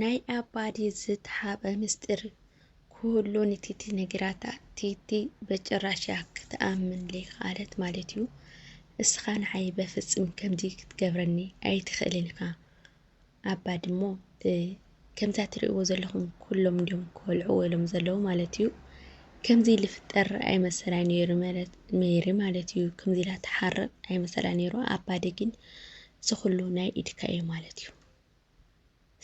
ናይ ኣባዲ ዝተሓበ ምስጢር ኩሉ ንቲቲ ነጊራታ ቲቲ በጭራሽ እያ ክትኣምን ለይከኣለት ማለት እዩ እስኻ ንዓይ በፍፅም ከምዚ ክትገብረኒ ኣይትኽእልን ኢኻ ኣባዲ እሞ ከምዛ ትሪእዎ ዘለኹም ኩሎም እንዲዮም ክወልዕዎ ኢሎም ዘለዉ ማለት እዩ ከምዚ ልፍጠር ኣይመሰላይ ነይሩ ማለት ሜሪ ማለት እዩ ከምዚ ኢላ ትሓርቕ ኣይመሰላ ነይሩ ኣባዲ ግን ዝኹሉ ናይ ኢድካ እዩ ማለት እዩ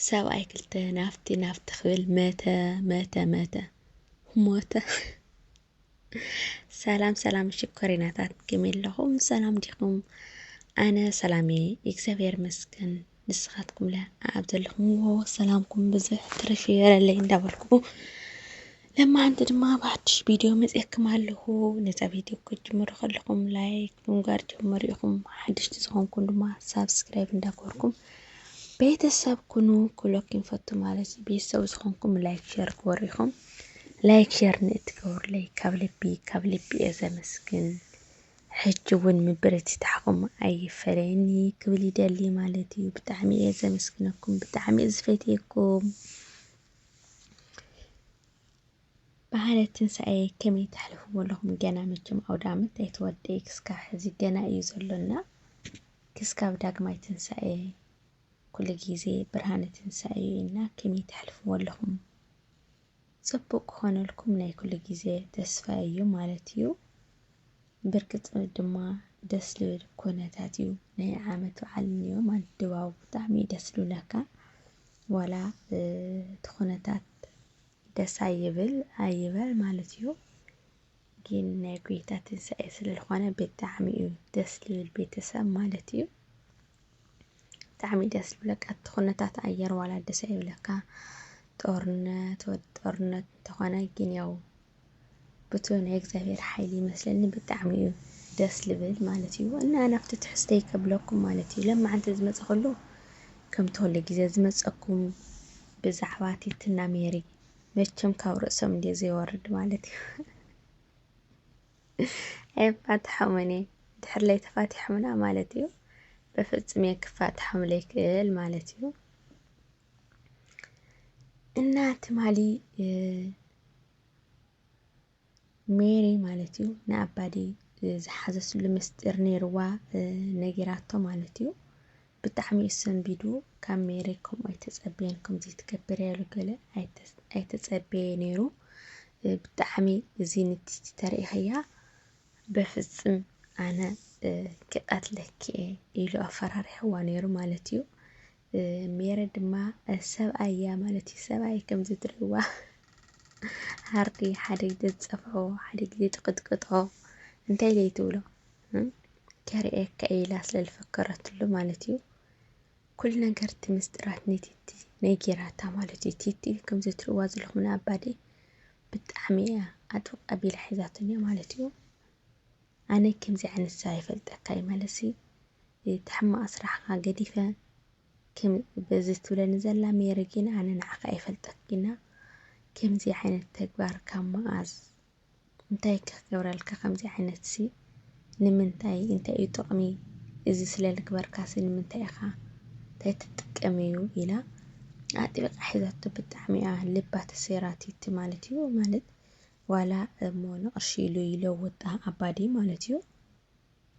ሰብኣይ ክልተ ናፍቲ ናፍቲ ክብል መተ መተ መተ ሞተ። ሰላም ሰላም ሽኮሪናታት ከመይ ኣለኹም? ሰላም ዲኹም? ኣነ ሰላም እየ እግዚኣብሔር ይመስገን። ንስኻትኩም ለ ኣብ ዘለኹምዎ ሰላምኩም ብዝሕ ትርፍ ይበለለይ እንዳበልኩ ለማዓንቲ ድማ ብሓዱሽ ቪድዮ መፅኤክም ኣለኹ ነዛ ቪድዮ ክትጅምሩ ከለኹም ላይክ ብምግባር ጀምሩ ኢኹም ሓደሽቲ ዝኾንኩም ድማ ሳብስክራይብ እንዳገበርኩም ቤተሰብ ኩኑ ክሎክ ይንፈቱ ማለት እዩ ቤተሰብ ዝኾንኩም ላይክ ሸር ግበሩ ኢኹም ላይክ ሸር ንእትገብሩለይ ካብ ልቢ ካብ ልቢ እየ ዘመስግን ሕጂ እውን ምብርትታዕኹም ኣይፈለየኒ ክብል ይደሊ ማለት እዩ ብጣዕሚ እየ ዘመስግነኩም ብጣዕሚ እየ ዝፈትየኩም በዓለ ትንሳኤ ከመይ ተሕልፍዎ ኣለኹም? ገና መቸም ኣውደኣመት ኣይተወድኤ ክስካብ ሕዚ ገና እዩ ዘሎና። ክስካብ ዳግማይ ትንሳኤ ኩሉ ግዜ ብርሃነ ትንሳኤ እዩ እና ከመይ ተሕልፍዎ ኣለኹም? ጽቡቕ ክኾነልኩም ናይ ኩሉ ግዜ ተስፋይ እዩ ማለት እዩ። ብርግጽ ድማ ደስ ልብል ኩነታት እዩ ናይ ዓመት በዓል እኒኦ ማለት ድባቡ ብጣዕሚ እዩ ደስ ልብለካ። ዋላ እቲ ኩነታት ደስ ኣይብል ኣይበል ማለት እዩ ጊን ናይ ጎይታ ትንሳኤ ስለ ልኾነ ብጣዕሚ እዩ ደስ ልብል ቤተሰብ ማለት እዩ ብጣዕሚ እዩ ደስ ልብለካ እቲ ኩነታት ኣየር ዋላ ደስ ኣይብለካ ጦርነት ወዲ ጦርነት እንተኾነ ጊን ያው ብቱይ ናይ እግዚኣብሔር ሓይሊ ይመስለኒ ብጣዕሚ እዩ ደስ ልብል ማለት እዩ እና ናብቲ ትሕዝተይ ከብለኩም ማለት እዩ ለማዓንቲ ዝመፀ ከሎ ከምቲ ኩሉ ግዜ ዝመፀኩም ብዛዕባ ቲትና ሜሪ መቸም ካብ ርእሶም እንድየ ዘይወርድ ማለት እዩ ኣይፋትሖምን እየ ድሕር ላይ ተፋቲሖምና ማለት እዩ በፍፅም እየ ክፋትሖም ለይክእል ማለት እዩ እና ትማሊ ሜሪ ማለት እዩ ንኣባዲ ዝሓዘስሉ ምስጢር ነይርዋ ነጊራቶ ማለት እዩ ብጣዕሚ እዩ ሰንቢዱ ካብ ሜሪ ከምኡ ኣይተፀበየን ከምዚ ትገብር ያሉ ገለ ኣይተፀበየ ነይሩ ብጣዕሚ እዚ ንትቲ ተሪኢኸያ በፍፅም ኣነ ክቀትለኪ እየ ኢሉ ኣፈራሪሕዋ ነይሩ ማለት እዩ ሜሪ ድማ ሰብኣይ እያ ማለት እዩ ሰብኣይ ከምዚ ትርእይዋ ሃርዲ ሓደ ግዜ ትጸፍሖ ሓደ ግዜ ትቅጥቅጦ እንታይ ደይ ትብሎ ከርእየካ ኢላ ስለ ዝፈከረትሉ ማለት እዩ ኩሉ ነገር እቲ ምስጢራት ንቲቲ ነጊራታ ማለት እዩ ቲቲ ከምዚ ትርእይዋ ዘለኹም ንኣባዲ ብጣዕሚ እያ ኣጥብቅ ኣቢላ ሒዛትኒ ማለት እዩ ኣነ ከምዚ ዓይነት ሰብ ኣይፈልጠካ እየ ማለትሲ እቲ ሕማቅ ስራሕካ ገዲፈ ከም በዚ ትብለኒ ዘላ ሜሪ ግን ኣነ ንዓካ ኣይፈልጠክ ግና ከምዚ ዓይነት ተግባር ካብ መኣዝ እንታይ ከ ክገብረልካ ከምዚ ዓይነት ሲ ንምንታይ እንታይ እዩ ጥቅሚ እዚ ስለ ልግበርካ ሲ ንምንታይ ኢካ እንታይ ትጥቀም እዩ ኢላ ኣጥቢቃ ሒዛቶ ብጣዕሚ እያ ልባ ተሰይራቲቲ ማለት እዩ ማለት ዋላ እሞ ንቕርሺ ኢሉ ይለውጣ ኣባዲ ማለት እዩ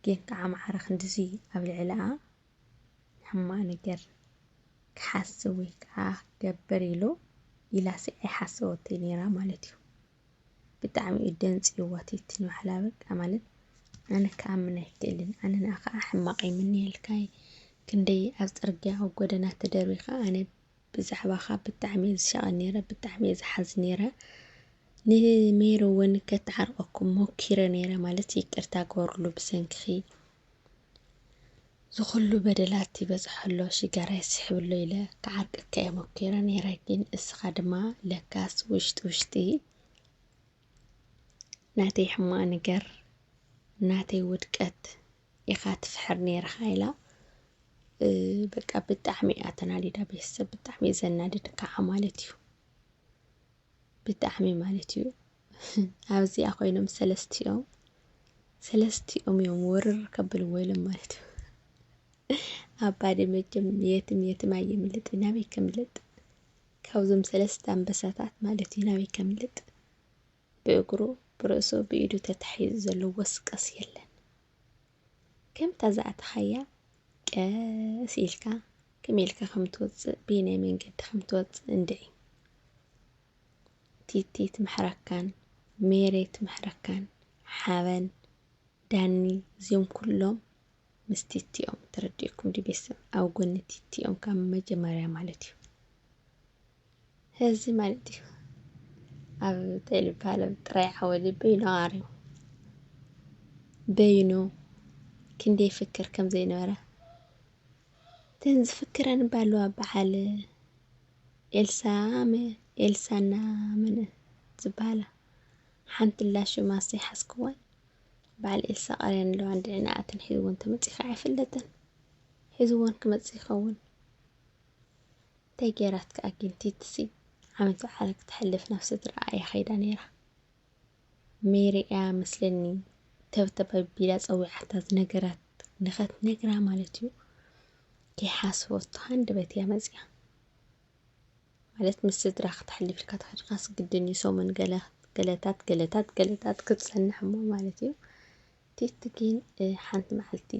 ጌን ክዓ ኣምሓራ ክንድዚ ኣብ ልዕልኣ ሕማቕ ነገር ክሓስብ ወይ ክዓ ክገብር ኢሉ ኢላሲ ኣይሓሰበቶይ ነይራ ማለት እዩ ብጣዕሚ እዩ ደንፅዩዋ ቲቲ ንባዕላ በቃ ማለት ኣነ ክኣምን ኣይክእልን ኣነ ንኣኻ ሕማቕ ይምነየልካ እየ ክንደይ ኣብ ፅርግያ ኣብ ጎደና ተደርቢኻ ኣነ ብዛዕባኻ ብጣዕሚ እየ ዝሻቐል ነይረ ብጣዕሚ እየ ዝሓዝን ነይረ ንሜሪ እውን ከተዓርቐኩም ሞኪረ ነይረ ማለት ይቅርታ ግበርሉ ብሰንኪኺ ዝኹሉ በደላት ይበፅሖ ኣሎ ሽጋራ ይስሕብ ኣሎ ኢለ ክዓርቀካ እየ ሞኪረ ነይረ ግን እስኻ ድማ ለካስ ውሽጢ ውሽጢ ናተይ ሕማቕ ነገር ናተይ ውድቀት ኢኻ ትፍሕር ነይርኻ ኢላ በቃ ብጣዕሚ እያ ተናዲዳ ቤተሰብ ብጣዕሚ እዩ ዘናድድ ከዓ ማለት እዩ ብጣዕሚ ማለት እዩ ኣብዚኣ ኮይኖም ሰለስቲኦም ሰለስቲኦም እዮም ወርር ከብልዎ ኢሎም ማለት እዩ ኣባዲ መቸም የትም የትም ኣየምልጥ ናበይ ከምልጥ ካብዞም ሰለስተ ኣንበሳታት ማለት እዩ ናበይ ከምልጥ ብእግሩ ብርእሱ ብኢዱ ተታሒዙ ዘሎ ወስቀስ የለን ከምታ ዝኣተኻያ ቀስ ኢልካ ከመይ ኢልካ ከም ትወፅእ ብየናይ መንገዲ ከም ትወፅእ እንድዒ ቲቲ ትምሕረካን ሜሬ ትምሕረካን ሓበን ዳኒ እዚኦም ኩሎም ምስ ቲቲኦም ተረዲእኩም ዲ ቤተሰብ ኣብ ጎኒ ቲቲኦም ካብ መጀመርያ ማለት እዩ ህዚ ማለት እዩ ኣብ ተልባለም ጥራይ ዓወዲ በይኑ ኣርዩ በይኑ ክንደይ ይፍክር ከም ዘይነበረ እተን ዝፍክረን እባ ኣለዋ በዓል ኤልሳ መ- ኤልሳና መን ዝበሃላ ሓንቲ ኣላ ሽማ ዘይሓዝክዋን በዓል ኤልሳ ቀርየን ኣለዋ እንድዕንኣተን ሒዝወን ተመፂኡ ከዓ ኣይፍለጥን ሒዝወን ክመፅእ ይኸውን እንታይ ጌራትካ ጊንቲትሲ ዓመት በዓል ክተሕልፍ ናብ ስድርኣ እያ ከይዳ ነይራ ሜሪ እያ መስለኒ ተብተብ ኣቢላ ጸዊዓታ ዝነገራት ንኸትነግራ ማለት እዩ ከይሓስበቶ ሃንደበት እያ መጽያ ማለት ምስ ስድራ ክተሕልፍ ኢልካ ተኸድካስ ግድን እዩ ሰሙን ገለ ገለታት ገለታት ገለታት ክትጸንሕ እሞ ማለት እዩ ቲቲ ግን ሓንቲ መዓልቲ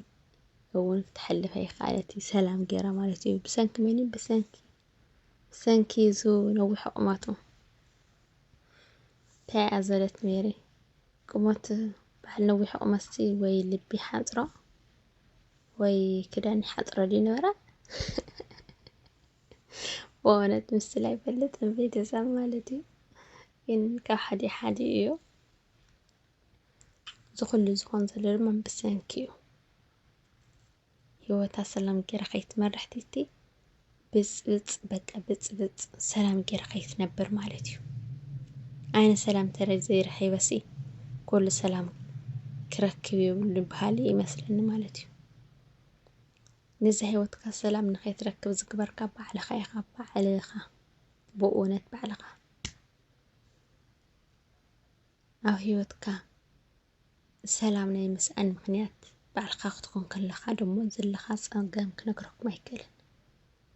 እውን ክትሐልፍ ኣይከኣለት እዩ ሰላም ገይራ ማለት እዩ ብሰንኪ መን እዩ ብሰንኪ ብሰንኪ ዙ ነዊሖ ቁመቱ እንታይ እያ ዘለት ሜሪ ቁመት በዓል ነዊሖ ቁመትሲ ወይ ልቢ ሓንፅሮ ወይ ክዳን ሓፅሮ ድዩ ነበረ በእውነት ምስል ኣይፈልጥን ቤተሰብ ማለት እዩ ግን ካብ ሓደ ሓደ እዩ እዚ ኩሉ ዝኾን ዘሎ ድማ ብሰንኪ እዩ። ሂወታ ሰላም ጌራ ከይትመርሕ ቲቲ ብፅብፅ በቃ ብፅብፅ ሰላም ጌራ ከይትነብር ማለት እዩ። ዓይነ ሰላም ተረ ዘይረኺበሲ ኩሉ ሰላም ክረክብ ይብሉ በሃሊ ይመስለኒ ማለት እዩ። ነዚ ሂወትካ ሰላም ንኸይትረክብ ዝግበርካ ባዕልኻ ኢኻ ባዕልኻ ብእውነት ባዕልኻ ኣብ ህይወትካ ሰላም ናይ ምስኣን ምኽንያት ባዕልኻ ክትኾን ከለኻ ደሞ ዘለኻ ጸገም ክነግረኩም ኣይክእልን።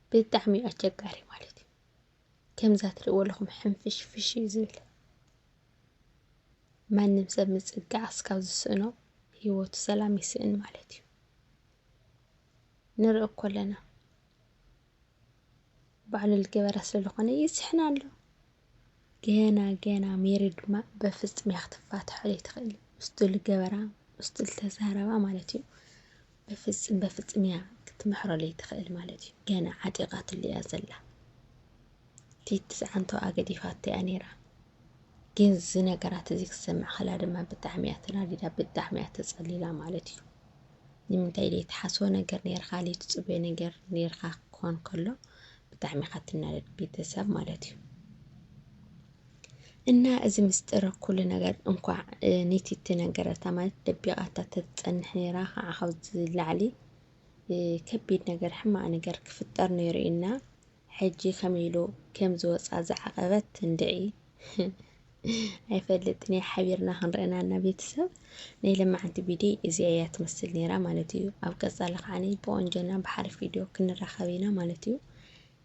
ብጣዕሚ እዩ ኣቸጋሪ ማለት እዩ ከምዛ ትርእዎ ኣለኹም ሕንፍሽ ፍሽ እዩ ዝብል ማንም ሰብ ምጽጋዕ እስካብ ዝስእኖ ህይወቱ ሰላም ይስእን ማለት እዩ ንርኢ እኮ ኣለና ባዕሉ ልገበራ ስለ ልኾነ ይስሕና ኣሎ ገና ገና ሜሪ ድማ በፍጽም እያ ክትፋትሖ ዘይትኽእል ምስቱ ልገበራ ምስቱ ልተዛረባ ማለት እዩ በፍጽም በፍጽም እያ ክትምሕሮ ዘይትኽእል ማለት እዩ ገና ዓጢቓትሉ እያ ዘላ ቲቲ ዝዓንቶኣ ገዲፋቶ እያ ነይራ። ግን እዚ ነገራት እዚ ክትሰምዕ ከላ ድማ ብጣዕሚ እያ ተናዲዳ፣ ብጣዕሚ እያ ተጸሊላ ማለት እዩ። ንምንታይ ደይ ትሓስቦ ነገር ነይርካ፣ ደይ ትጽበዮ ነገር ነይርካ ክኾን ከሎ ብጣዕሚ ኢኻ ትናደድ ቤተሰብ ማለት እዩ። እና እዚ ምስጢር ኩሉ ነገር እንኳዕ ኒቲቲ ነገረታ ማለት ደቢቓታ ተትፀንሕ ነይራ ከዓ ካብዚ ላዕሊ ከቢድ ነገር ሕማቅ ነገር ክፍጠር ነይሩ እና ሕጂ ከመይ ኢሉ ከም ዝወጻ ዝዓቀበት እንድዒ ኣይፈልጥን እየ ሓቢርና ክንርእና እና ቤተሰብ ናይ ለማዓንቲ ቪድዮ እዚኣ እያ ትመስል ነይራ ማለት እዩ ኣብ ቀጻሊ ከዓኒ ብቆንጆና ብሓሪፍ ቪድዮ ክንራኸብ ኢና ማለት እዩ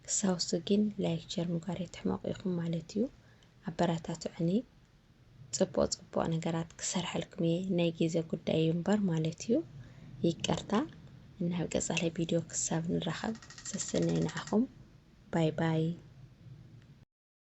ክሳውሱ ግን ላይክ ሸር ምግባር የትሕመቁ ኢኹም ማለት እዩ ኣበራታትዑኒ ጽቡቅ ጽቡቅ ነገራት ክሰርሐልኩም እየ ናይ ግዜ ጉዳይ እዩ እምበር ማለት እዩ ይቅርታ ናብ ቀጻሊ ቪድዮ ክሳብ ንራኸብ ሰስነይ ንዓኹም ባይ ባይ